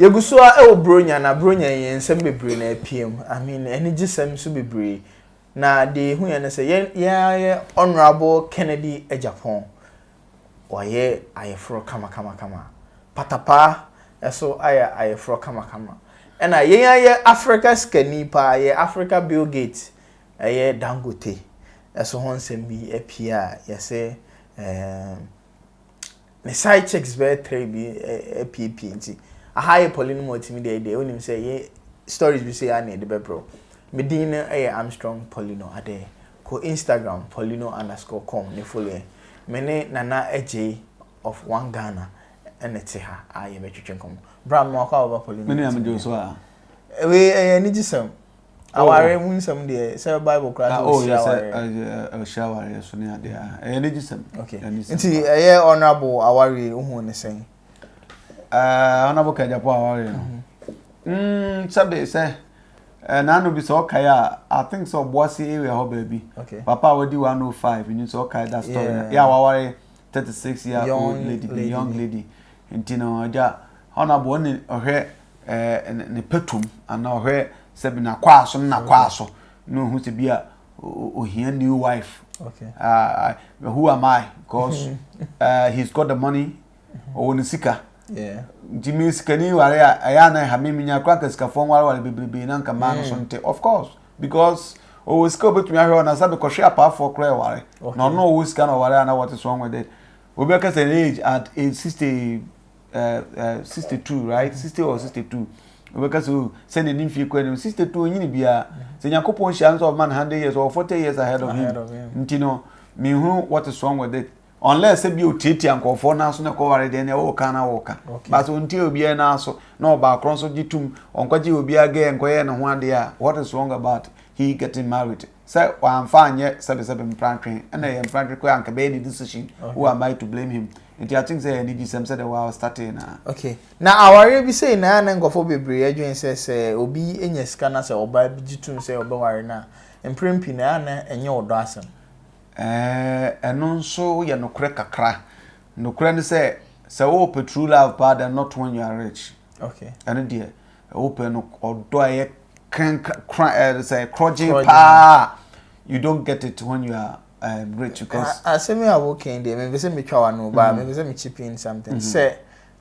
Yɛgu so ara wɔ Buronya, na Buronya yi, nsɛm bebree na apue mu. I mean, anigyesɛm nso bebree. Na deɛ yɛhuiɛ ne sɛ, yɛn yɛn ara yɛ Honourable Kennedy Agyapong, wayɛ ayeforɔ kamakamakama. Patapaa nso ayɛ ayeforɔ kamakama. Ɛna yɛn ara yɛ Africa sikani paa, yɛ Africa Bill Gates Ɛyɛ Dangote so ho nsɛm bi pii a yɛse ne side chicks bɛyɛ three bi apiepie nti aha yɛ Pauline mu ɔtumi deɛ deɛ wonim sɛ yɛ stories bi so yɛ ana yɛde bɛbrɛ wo. Me din no yɛ Armstrong Paulino Adɛɛ. Kɔ Instagram paulino underscore com ne follow yɛn. Me ne Nana Agyei of One Ghana ɛna te ha a yɛbɛtwetwe nkɔmmɔ. Bra mmoa kɔ a wɔba Paulino. Me ne Amedwo so a. Wei ɛyɛ anigyesɛm. Awareɛ mu nsɛm deɛ sɛ Bible koraa sɛ ɔhyira awareɛ. Ɔhyira awareɛ so ne adeɛ a. Ɛyɛ ne gyesɛm. Nti ɛyɛ honorable awareɛ wohu ne sɛn? Honorable Kajapo awareɛ no. Mm, sɛbe sɛ naano bi sɛ ɔkae a I think sɛ ɔboase area hɔ baabi. Papa a wadi 105 nim sɛ ɔkae that story. Yɛ a waware thirty six year old lady bi young lady nti no agya honourable ɔne ɔhwɛ ɛɛ ne pɛtum ana ɔhwɛ sɛbi n'akwaa so ne n'akwaa so na ohun sɛ bi a ohia new wife okay. uh, who am I because uh, he's got the money mm-hmm. ɔwɔ ne sika nti mi sikani ware a ɛyɛ anan ha mi mi nya kura ka sikafo nwareware bebrebe na nka maa no so mm. nte of course. because ɔwɔ sika obetumi ahwɛ ɔna sɛ bɛkɔhwɛ apaafoɔ koraa ɛware na ɔno ɔwɔ sika na ɔware a na wɔte so ɔnwɛ dɛ obi bɛka sɛ age at age sixty eh, eh, sixty two right sixty or sixty two obɛka sɛ oh, sɛ n'ani mfie kɔ anim sixty two onyini biara sɛ nyankopɔn hyia nso ɔma no hundred years ɔwɔ forty years ahead of him nti no mehunu wɔte so ɔnwɛ dɛ unless sɛ bi otiatia nkurɔfoɔ no aso na ɛkɔware deɛ ne ɛwoka na woka but ɔntie obiara no aso na ɔbaakorɔ nso gye tom ɔnkɔgye obiara gɛ nkɔyɛ ne ho adeɛ a what is wrong about he getting married sɛ wamfa anyɛ sɛbesɛbe mpratwe ɛna ɛyɛ mpratwe kɔ anka bɛyɛ ne decision who am I to blame him nti I think sɛ ɛyɛ ne gyisɛm sɛ dɛ wa starting na okay na awareɛ bi sei na na nkɔfoɔ bebree adwene sɛ sɛ obi nya sika na sɛ ɔbaa bi gye tom sɛ ɔbɛware no a mprempii na ɛna ɛnyɛ ɔdɔ asɛm Ɛɛ, ɛno nso yɛ nokorɛ kakra. Nokorɛ ne sɛ, sɛ wowɔ pɛ true love paa then not when you are rich. Okay. Ɛno deɛ, wopɛ no ɔdɔ a ɛyɛ krankra ɛɛ sɛ krɔgyen Krɔgyen. paa. You don't get it when you are um, rich because A- asɛm yi a wokan deɛ mepɛ sɛ metwa w'ano baa mepɛ sɛ me chip in something sɛ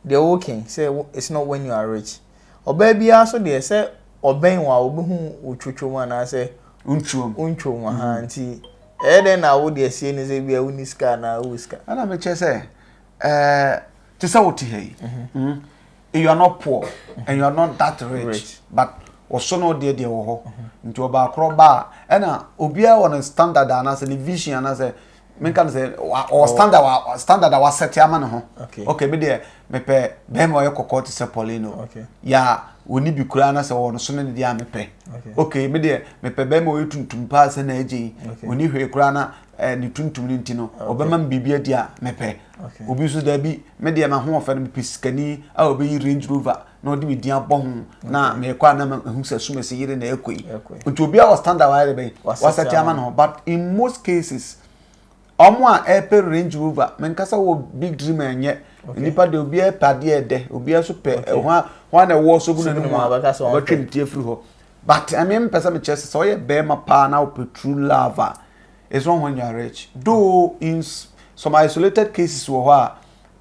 deɛ woreka yi sɛ it's not when you are rich. Ɔbaa biara nso deɛ sɛ ɔbɛn wo a ɔbɛhu wo twotwo mu anaasɛ wontwo mu ha mm. nti ɛyɛ dɛn na wo deɛ sie ne sɛ bia wonni sika anaa wowɔ sika. Ɛna mekyɛ sɛ ɛɛ te sɛ wote ha yi. Mhm. Mm. You are not poor and you are not that rich, rich. but wɔso no deɛ deɛ wɔ hɔ mhm. nti ɔbaakorɔ ba a ɛna obiara wɔ ne standard anaasɛ ne vision anaasɛ menka no sɛ ɔwɔ standard wa standard a wasɛte ama ne ho okay me deɛ mepɛ bɛrima ɔyɛ kɔkɔɔ te sɛ pauline o yɛ a ɔni bi koraa na sɛ ɔwɔ no so ne ne deɛ a mepɛ okay me deɛ mepɛ bɛrima ɔyɛ tuntum paa sɛ na agye yi ɔni hwee koraa na eh, ne tuntum no nti no ɔbɛma me biribi adi a mepɛ obi nso daabi me deɛ mahoɔfɛ no mepɛ sikani a ɔbɛyi range rover na ɔde me din abɔ ho na mekɔ a na mahu sɛ sumasi yere na ɛkɔ yi nti obiara wɔ standard wayɛ de bɛn wasɛte ama ne ho but in most cases wɔn a ɛpɛ range rover menkasa wɔ big dream ɛnyɛ nnipa de obiara pɛ adeɛ ɛdɛ obiara nso pɛ ɛho a ho a na ɛwɔ so gu n'anim a ɔbɛtwe ne ti afiri hɔ but ɛmi mpɛ sɛ mekyerɛ sɛ sɛ ɔyɛ bɛrima paa na ɔpɛ true love a it's not when you are rich though in some isolated cases wɔ hɔ a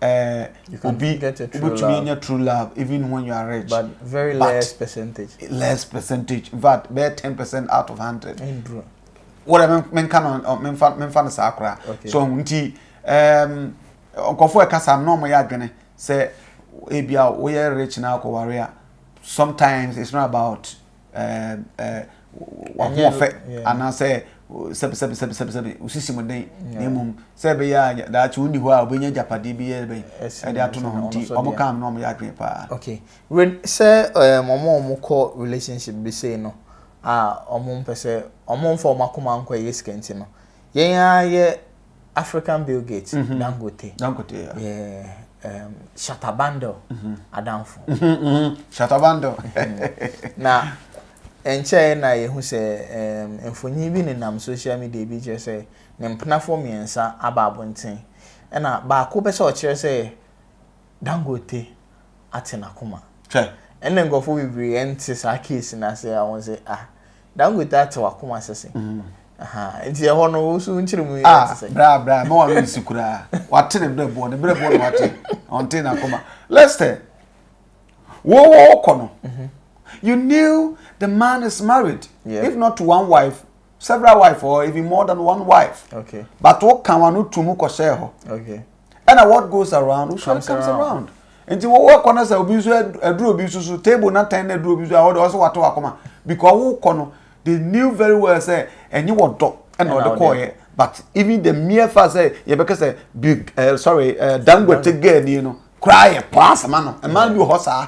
eh, you can obi get a true love. Nya true love even when you are rich. But very but less percentage. Less percentage. In fact, bare 10% out of 100. Endro. What I mean can on men fan men fan sakra. So nti um nkofo e kasa no mo ya adwene say ebia we rich na akoware a sometimes it's not about wahoɔfɛ anaasɛ sɛbisɛbisɛbisɛbi osisi mu den na mmom sɛ ɛbɛyɛ a daakye onni hɔ a obenya agyapadeɛ bi yɛ bɛn ɛde ato no ho nti wɔn ka no na wɔn yɛ adwene paa. okay ren sɛ ɛɛm wɔn a wɔn kɔ relationship bi sei no a wɔn mpɛ sɛ wɔn nfa wɔn akoma nkɔ ɛyɛ sika nti no yɛn ara yɛ African Bill Gates, mm -hmm. Dangote, Dangote, yeah. yeah um, Shatabando, mm -hmm. Adamfo. Mm -hmm, mm -hmm. Shatabando. Mm-hmm. na nkyɛn na yɛhu sɛ um, mfonyin bi nenam social media bi kyerɛ sɛ ne mpenafoɔ mmiɛnsa aba abɔnten ɛna baako pɛ sɛ ɔkyerɛ sɛ Dangote ate n'akoma. Twɛ. Ɛna nkurɔfoɔ bebree ɛnte saa case n'ase a wɔn sɛ ah. Dangote ate wakoma sese. Mm. Aha. Nti ɛhɔ no wo so nkyere mu yɛ ah, te sɛ. Bra bra ma wa resi kura. Wate ne brɛ bɔ ne brɛ bɔ no wate. Ɔnte na koma. Lester. Wo wo kɔ no. Mhm. You knew the man is married. Yeah. If not to one wife, several wife or even more than one wife. Okay. But wo kan wa no tumu kɔ sɛ hɔ. Okay. ɛna what goes around will surely comes around nti wo wakɔ na sɛ obi nso aduru obi nso so table na tɛn na aduru obi nso a wɔde ɔsɛ wato akoma because wo kɔ no they knew very well sɛ ɛnye wɔ dɔ ɛna ɔde kɔɔyɛ but even the mere fact sɛ yɛbɛka sɛ bi uh, sorry uh, dangote girl ni no koraa yɛ pɔn asɛma no mmaa bi wɔ hɔ saa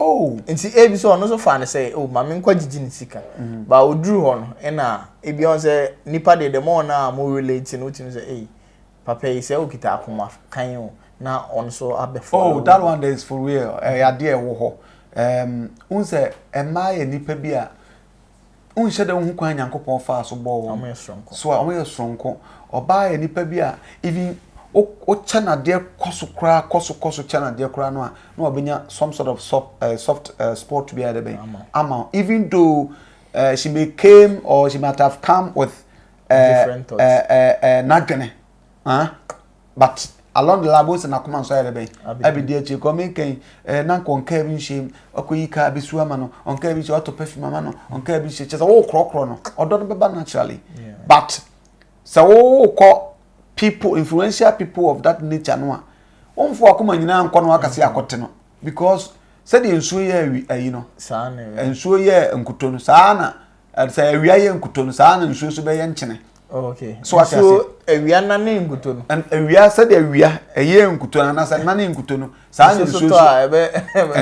oh nti ebi sɛ ɔno nso fa no sɛ oh maame nkɔ gyigye ne sika mm. ba oduru hɔ no ɛna ebi ɔn sɛ nipa deɛ dɛm ɔn a mo relate no wotumi sɛ ee papa yi sɛ okita akoma kan o na ɔn nso abɛfo. oh that one is for real ɛyɛ adeɛ ɛwɔ hɔ ɛɛm n sɛ ɛmaa yɛ nipa bi a wonhyɛ da nhu kwan Nyankopɔn faa so bɔɔ wɔn. Wɔyɛ soronko. So a wɔyɛ soronko. Ɔbaa yɛ nipa bi a even wokyɛ no adeɛ kɔ so koraa kɔ so kɔ so kyɛ no adeɛ koraa no a na wabɛnya some sort of soft, uh, soft uh, spot bi a yɛde bɛn ama even though uh, she may came or she might have come with uh, different thoughts uh, uh, uh, n'adwene huh? but along the line bó sɛ n'akoma nso ayɛ dɛ bɛn abedi akyire kɔ ɔmɛn kɛn ɛɛ na nkɔ nkaa bi nhyɛ mu ɔkɔ yi kaa bi su ama no ɔnkaa bi nhyɛ ɔtɔ perfume ama no ɔnkaa bi nhyɛ kyɛ sɛ wɔwɔ korɔkorɔ no ɔdɔ no bɛba naturally but sɛ wɔwɔ kɔ people influential people of that nature no a wɔn fo akoma nyinaa nkɔ no akasi akɔte no because sɛdeɛ nsuo yɛ ayi no nsuo yɛ nkuto no saa na. sɛ awia yɛ nkuto no saa na nsuo nso bɛyɛ nkyene okay so ate ase awia nane nkuto no awia sɛdeɛ awia ɛyɛ nkuto no anasɛ nane nkuto no saa na nsuo nso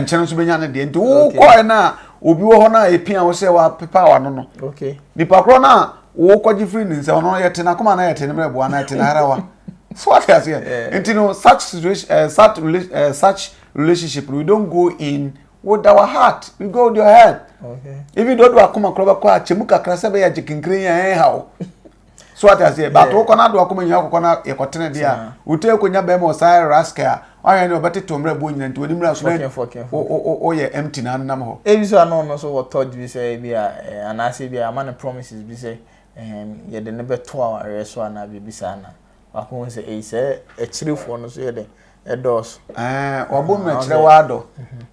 nkyene nso bɛnya ne deɛ nti wokɔɛ no a obi wɔ hɔ no a ɛpia wo sɛ wapepa wano no nipa korɔ no a wokɔgye firi ne nsɛm no yɛte no akoma no yɛte no mmerɛ boa no yɛte no harawa so what I say? And you know, such situation, uh, such, uh, such relationship, we don't go in wo da wa heart you go with your head even though do akoma koro bɛkɔ a kyɛ mu kakra sɛ bɛyɛ gye kenkere yɛn ɛn ha o so ate aseɛ bato wokɔ no ado akoma nyina kɔkɔ no yɛkɔtene deɛ a wote kɔnya bɛrima ɔsaa raske a wahwɛ ne ɔbɛtete ɔmmerɛ boɔ nyina nti wɔne mmerɛ so dɛ woyɛ empty na nam hɔ ebi so ano no so wɔ thought bi sɛ bi a anaasɛ bi a ama no promises bi sɛ yɛde ne bɛto awareɛ so anaa biribi saa na Wakohu sɛ ei sɛ akyirifoɔ no so yɛ dɛ ɛdɔɔso. Ɛɛ wabɔ mu na kyerɛ waa dɔ. Mhm.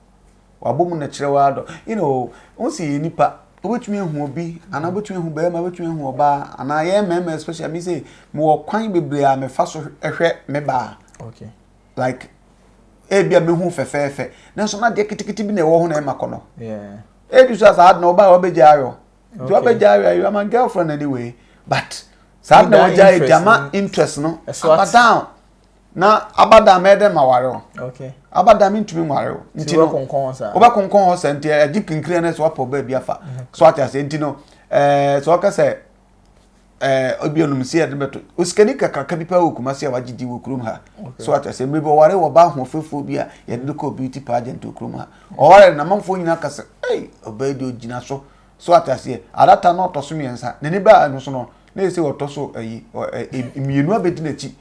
Wabɔ mu na kyerɛ waa dɔ. You know, wɔn si yɛ nipa. Wobɛtumi ahu obi anaa wobɛtumi ahu bɛrima wobɛtumi ahu ɔbaa anaa yɛn mmarima especially mi sɛ mewɔ kwan bebree a mefa so hwɛ me baa. Okay. Like ebi a mehu fɛfɛɛfɛ nanso na deɛ ketekete bi na ɛwɔ ho na ɛma kɔ no. Yeah. Ebi so asa adana ɔbaa wabɛgya ayɔ. nti wabɛgya awia you are my girlfriend anyway but saa na wɔgya yɛ gyama interest no abadan na abadan mɛyɛ dɛ ma ware o abadan mentumi nware o nti no wobɛkonkɔn hɔ sɛ nti agye kinkiri no sɛ wapɔ baabi afa so ate aseɛ nti no sɛ wɔka sɛ ɛɛ obi onum si yɛde bɛto osikani kakraka bi paa wɔ kumasi a wagye di wɔ kurom ha so ata sɛ mmiri bi ɔware wɔ ba ahoɔfɛfoɔ bi a yɛde no kɔ beauty pageant wɔ kurom ha ɔware na amanfoɔ nyinaa kasa ɛy ɔbaa yi deɛ ogyina so so ata seɛ adata na ɔtɔ so mmiɛnsa n'ani baa ɛno so no na yɛ sɛ ɔtɔ so ɛyi mmienu abɛdi n'akyi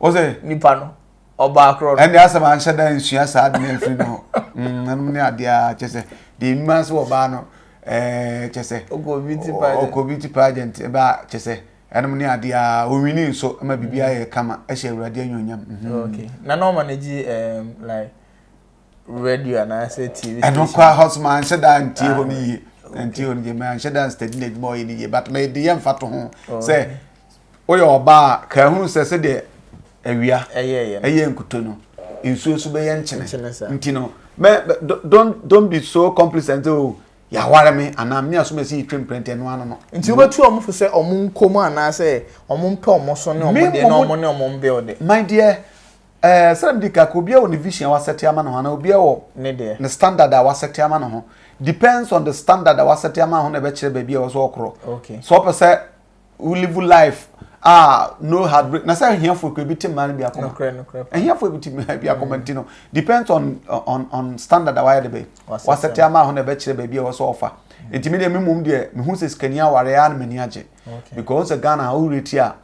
Wɔ sɛ. Nipa no, ɔbaa korɔ no. Ɛnde asɛm anhyɛ da nsua saa ade no afiri no. Ɛnom ne adeɛ a kyɛ sɛ deɛ nim ase wɔ baa no kyɛ sɛ. Ɔkɔ beauty pageant. Ɔkɔ beauty pageant ɛbɛ a kyɛ sɛ ɛnom ne adeɛ a ɔwini nso ma biribi ayɛ kama ɛhyɛ awurade anyonyam. Okay. Na na ɔma no gye like. radio anaasɛ tv station ɛno kora hɔ so manhyɛ da ntie hɔ no yie ntie hɔ no yie manhyɛ da nstadi no adwuma ɔyɛ no yie but mede yɛ mfa to ho sɛ woyɛ ɔbaa a kaa hunu sɛ sɛdeɛ awia ɛyɛ nkuto no nsuo so bɛyɛ nkyene nti no don't don't be so complacent o oh, yɛaware me anaa me asom asi yɛtwa mprɛnti ɛno ano no nti wobɛtu ɔmo fo sɛ ɔmo nkɔ mu anaasɛ ɔmo mpɛ ɔmo so ne ɔmo deɛ na ɔmo ne ɔmo mbɛ ɔde my dear Ɛɛ sɛdɛ mede ka ka obiara wɔ ne vision a wasɛte ama ne ho anaa obiara wɔ ne standard a wasɛte ama ne ho depends on the standard a wasɛte ama ne ho na ɛbɛkyerɛ baabi a ɛwɔ sɛ ɔkorɔ sɛ ɔpɛ sɛ wo live life a no heartbreak na sɛ ahiafoɔ kura bi te mmaa no bi akoma ahiafoɔ bi te mmaa bi akoma nti no depends on on on standard a wayɛ de bɛ wasɛte ama ho na ɛbɛkyerɛ baabi a ɛwɔ sɛ ɔfa nti mi deɛ mi mum deɛ mi hu sɛ sikani aware a na m'ani agye because Ghana ha wo reti a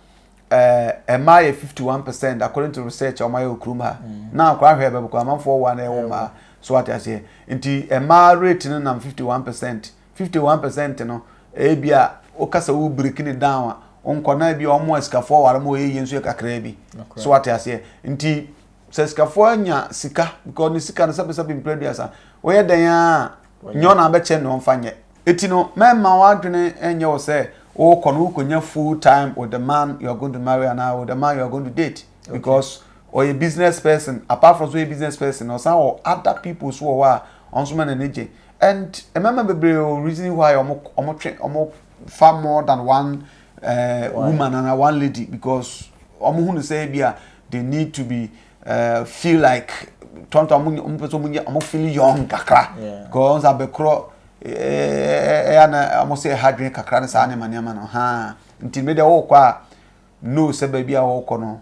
Eh, mmaa yɛ fifty one percent according to research a wɔayɛ wɔ kurom ha na akora hwɛ bɛbɛkɔ amanfoɔ wɔ na ɛwɔ mmaa so ate aseɛ nti mmaa rate no nam fifty one percent fifty one percent no ebi a woka sɛ wo break ne down a nkwadaa bi a wɔn a sikafoɔ ware mu wɔyɛ yie nso yɛ kakraa bi so ate aseɛ nti sɛ sikafoɔ anya sika because ne sika no sɛbesɛbe mpere aduasa wɔyɛ dɛn a nyɛ ɔna abɛkyɛ ne ɔmfa nyɛ eti no mɛma w'adwene ɛnyɛ wɔ sɛ wokɔ no wokɔnya full time with the man you are going to marry and with the man you are going to date because ɔyɛ okay. business person apart from so yɛ business person ɔsan wɔ other people so wɔ hɔ a ɔno nso ma n'ani gye and mmarima bebree o reason why ɔmo ɔmo twe ɔmo fa more than one uh, woman and one lady because ɔmo hu no sɛ ebi a they need to be uh, feel like tɔntɔn ɔmo ɔmo pɛ sɛ ɔmo nyɛ ɔmo feel young kakra kɔɔ nsa bɛkorɔ ɛyɛ na ɔmo sɛ ɛha dwen kakra ne saa nneɛma nneɛma no haa nti mi deɛ ɔɔkɔ a no sɛ baabi a ɔɔkɔ no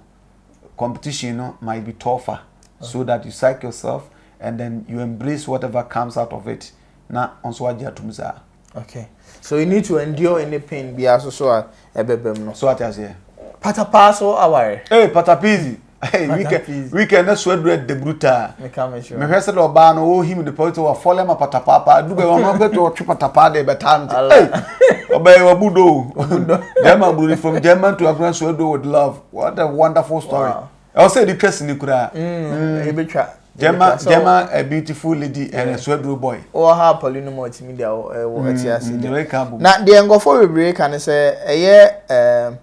competition no might be tougher so that you psych yourself and then you embrace whatever comes out of it na ɔnso agye atum saa. Okay so you need to endure any pain bi aso so a ɛbɛbɛ mu no. So ati aseɛ. Patapaa so aware. Ee eh, patapizi. Hey, weekend weekend na so adura de bruta. Me ka me sure. Me hwɛ sɛ dɛ ɔbaa no o him de pɔtɔ wa fɔlɛ ma patapaa pa. Du bɛ wɔn wɔn bɛ to ɔtwe patapaa de bɛ taa mi. Hey, ɔbɛ yɛ ɔbu do. German bruni from German to Africa so adu with love. What a wonderful story. Wow. ɛwɔ sɛ yɛde twa sini koraa yɛbɛtwa mm, mm. gyama gyama a beautiful lady and a suaduro boy wɔ ha apɔle no mu ɔtumi de ɛwɔ ɛte ase mm, na deɛ nkɔfoɔ bebree ka ne sɛ ɛyɛ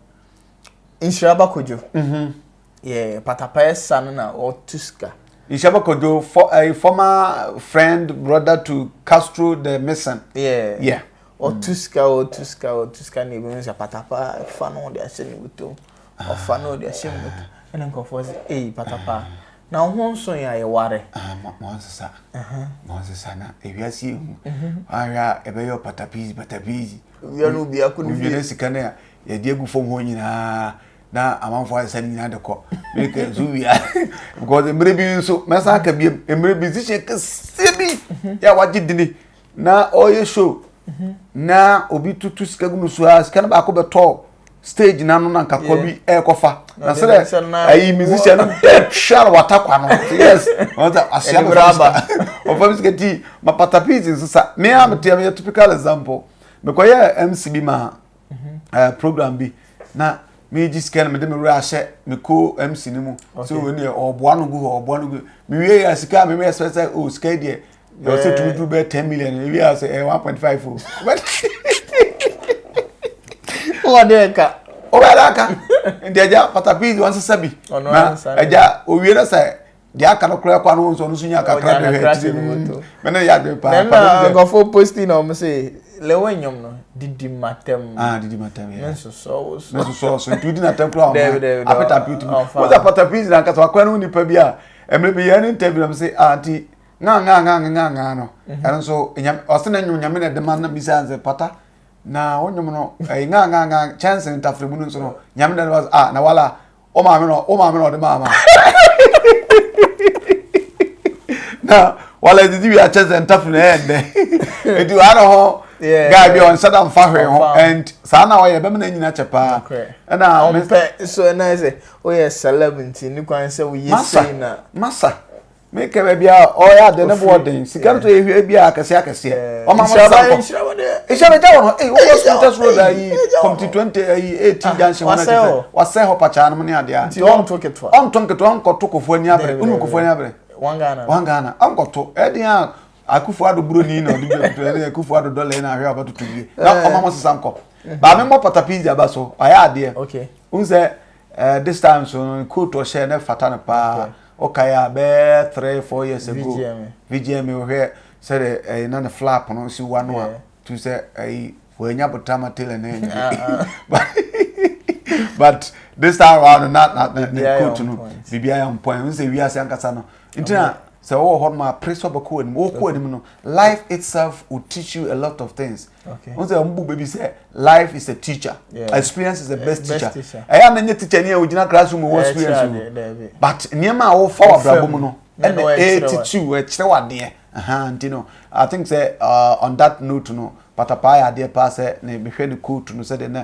nhyira bakodwo mhm. yɛ patapɛɛ sa no na ɔtu sika nhyira bakodwo for a eh, former friend brother to Castro the Mason yeah yeah ɔtu sika ɔtu sika ɔtu sika na ebi mu sɛ patapaa fa no de ahyɛ ne wutom. ɔfa na ɔde ahyɛ mu no ɛna nkurɔfoɔ sɛ ei patapaa na wo ho nso yɛ a yɛware ah, mɔnsesa mɔnsesa na ewiase ehu mhm. ahwɛ a ɛbɛyɛ patapizi patapizi wia no bia ko ne fie wia sika no a yɛde agu fam hɔ nyinaa na amanfo asesa no nyinaa de kɔ meka nso wia because mmerɛ bi nso mɛsa aka bi mmerɛ bi nsihyɛ kɛseɛ bi mhm. yɛ a wagye dini na ɔyɛ show na obi tutu sika gu no so a sika no baako bɛtɔ stage n'ano na nka kɔ bi ɛrekɔfa na sɛ dɛ ayi musician no dead hwɛ na wata kwa no yes wɔn sɛ ahyia no fam sika ɔfam sika ti ma patapiti nso sa me a me teɛ me yɛ typical example mekɔyɛ mc bi ma ɛɛ mhm. program bi na me gyi sika no mede me wura ahyɛ me ko mc no mu so wɔn deɛ ɔboa no gu hɔ ɔboa no gu me wie yɛ sika a me mɛ sɛ sɛ o sika deɛ na ɔsɛ eh. tuutu bɛ ten million ebi a sɛ ɛ one point five o. wọ́n dẹ́ ẹ̀ka. ó bẹ́ẹ̀ dẹ́ ẹ̀ka nti ẹja patapi wọn sisa bi na ẹja owie na sẹ deɛ aka no koraa kɔ ano nso ɔno nso nya kakra de hɛ ti mu mɛ ne yɛ adwene paa paa ne nkɔfo posti na ɔmo se lewe nyom no didi matam ah didi matam yɛ ne nsosɔ wo so ne nsosɔ so nti odi na tɛm koraa ɔmo apɛta pi ti mu wɔn sɛ apɛta pi ti na nkasa wakora ne ho nipa bi a ɛmɛ bi yɛ ne ntɛbi na mo se ah nti. ŋaŋaŋaŋaŋaa no ɛno nso ɔse na nnwom nyame na ɛde ma na bisa sɛ pata na wo nnwom no ɛyɛ ŋaŋaŋa kyɛnse ntafere mu no nso no nyame na ɛde ma ah na wala wo maame na wo maame na ɔde ma ma na wala ɛdidi wi akyɛnse ntafere na ɛyɛ ndɛ ɛdi wa na hɔ guy bi ɔnhyɛ da mfa hwee ho and saa na ɔyɛ bɛma na nyina kyɛ paa ɛna ɔmpɛ so ɛna sɛ woyɛ celeb nti ne kwan sɛ woyɛ sei na masa masa me kɛ baabi a ɔyɛ ade ne boɔ den sika no tɔ yɛ hwɛ bi a akɛseɛ akɛseɛ ɔma mo nsa kɔ nhyira bɛ gya wɔ no ee wokɔ sukuu tɛ soro da yi kɔmti twenty ayi eighty junction wɔn akyi sɛ wasɛ hɔ pakyaa no mu ne adeɛ nti ɔnto ketewa ɔnto nketewa ɔnkɔto kofoɔ ni abere ɔnu kofoɔ ni abere wɔn ghana wɔn ghana ɔnkɔto ɛdeɛ a akufo ado buroni na ɔde bi ɔtutu ɛne akufo ado dɔla yi na ahwɛ ɔbɛtoto wie na ɔma mo sesa nkɔ baame mmɔ patapi di aba so ɔyɛ adeɛ n sɛ Eh, this time so no, coat ɔhyɛ na fata no paa. Okay. Ɔkae a bɛɛ three four years ago. VGMA. VGMA ɔhwɛ sɛ de ɛyɛ na ne flap no si wa no a. Tu sɛ ɛyi wɔanya botama tailor na ɛnyɛ. Ah, ah. But this time wa no na na ne coat no bibia yɛ on point. N sɛ wiase ankasa no. Nti na sɛ wɔwɔ hɔ no ma apere sɛ ɔbɛkɔ anim. Wɔkɔ anim no, life itself will teach you a lot of things. Okay. Wọ́n sẹ́ ọmọ bùbẹ́ bi sẹ́ life is a teacher. Yeah. Experience is the best, best teacher. teacher. Ẹ̀yà mi nye teacher ni ẹ̀ ògyina classroom wọ́n experience o. But nneɛma a wọ́n fa wà abúlé mu no ɛna ẹ̀ titi o ẹ̀ kyerẹ́ wà deɛ. Nti no I think sẹ́ uh, on that note no patapaa yɛ adeɛ paa sɛ ne mehwɛ ne coat no sɛ deɛ na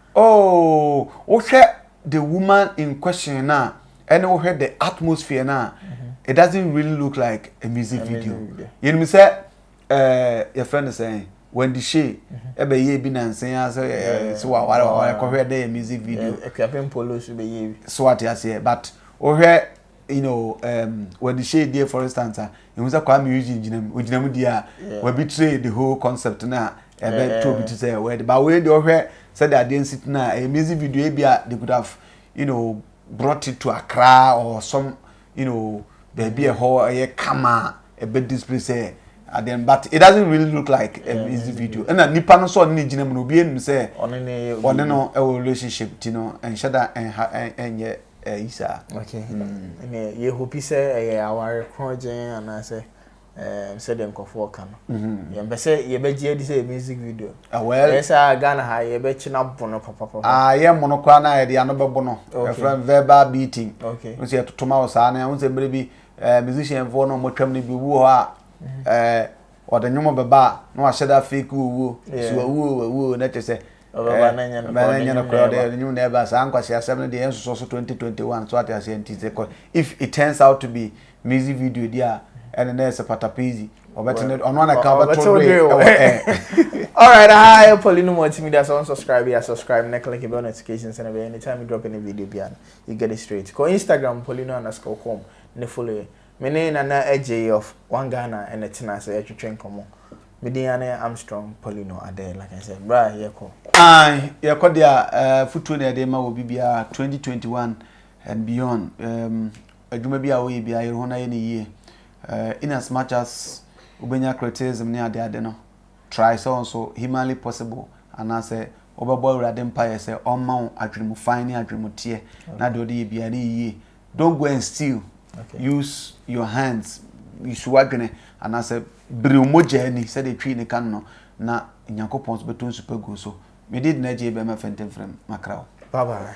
Oh, wohwɛ the woman in question no a, ɛne wohwɛ the atmosphere no a, it doesn't really look like a music video. Yɛnim sɛ eh, yɛfrɛ no sɛn, Wendy Shay, ɛbɛyɛ mhm. bi nansen a sɛ eh, sɛ waware waware kɔhwɛ dɛ yɛ music video. Akuapem Polo so bɛyɛ bi. So ate aseɛ, but wohwɛ you know um, wɔ de hyɛ die for instance a ehu sɛ kwame eugene gyina mu ogyina mu die a wɔbi tire the whole concept na ɛbɛ to obi ti sɛ wɔyɛ de ba wɔyɛ de ɔhwɛ sɛ de adeɛ nsi tena ɛyɛ music video ebi a they could have you know brought it to akra or some you know baabi ɛhɔ ɛyɛ kama ɛbɛ display sɛ adeɛ but it doesn't really look like a music video ɛna nipa no sɔ ne gyina mu na obi enim sɛ ɔne no ɛwɔ relationship ti no ɛnhyɛ da ɛnha ɛnyɛ. ayi saa. Okay. Ɛnna yɛhopi sɛ ɛyɛ aware korɔgyen anaasɛ ɛɛm sɛdeɛ nkurɔfoɔ ka no. Mm-hmm. Yɛmpɛ sɛ yɛbɛgye adi sɛ yɛ music video. Awɛl. Ah, ɛyɛ sɛ Ghana ha yɛbɛkye na bo no papapapa. Ah, yɛ mo no koraa na yɛde ano bɛbo no. Okay. Ɛfrɛ verbal beating. Okay. Nso yɛtoto ma wo saa na ɛho sɛ mmerɛ bi ɛɛ eh, musician foɔ no wɔtwam no bi obi wɔ hɔ a ɛɛ ɔde nnwom bɛba a na wahyɛ da fake wuo wuo. Yeah. So wuo wuo na kyɛ sɛ Ɔbɛba na ɛnyɛ nokorɛ, ɔde nnwom na ɛba. Ɔde nnwom na ɛba. Saa nkwasi asɛm no deɛ yɛn nsosɔ so 2021 so ate aseɛ nti sɛ kɔ if it turns out to be music video di a ɛne na ɛsɛ patapezi ɔbɛte ne ɔno ana ka ɔbɛte wo dwe ɛwɔ ɛn. Alright aha yɛ Pauline Multimedia sɛ unsubscribe yɛ subscribe na click bell notification sɛ na bɛyɛ anytime you drop any video bi a you get it straight kɔ Instagram Paulino underscore com ne follow yɛ me ne Nana Adjei of One Ghana ɛna tena sɛ yɛtwetwe nkɔmmɔ. Me din ane Armstrong Paulino Adair like I said. Bra yɛkɔ. Ae, yɛkɔ deɛ a eh, futuo na yɛde ma wɔ biribiara 2021 and beyond. Um, adwuma bi a woyɛ biara yɛre ho na yɛ ne yie. Uh, in as much as wobɛnya criticism ne ade ade no, try sɛ nso humanly possible anaasɛ wobɛbɔ awurade mpaeɛ sɛ ɔmma wo adwene mu fan ne adwene mu teɛ na deɛ ɔde yɛ biara ne yie. Don't go and steal. Okay. Use your hands. Use w'adwene anaasɛ Biriw mogya ani, sɛdeɛ Twi no ka no no, na Nyankopɔn nso bɛtɔ nsu pa agu wo so. Mede Edna J. Bɛma Fentemfrem, makra wo. Bye bye.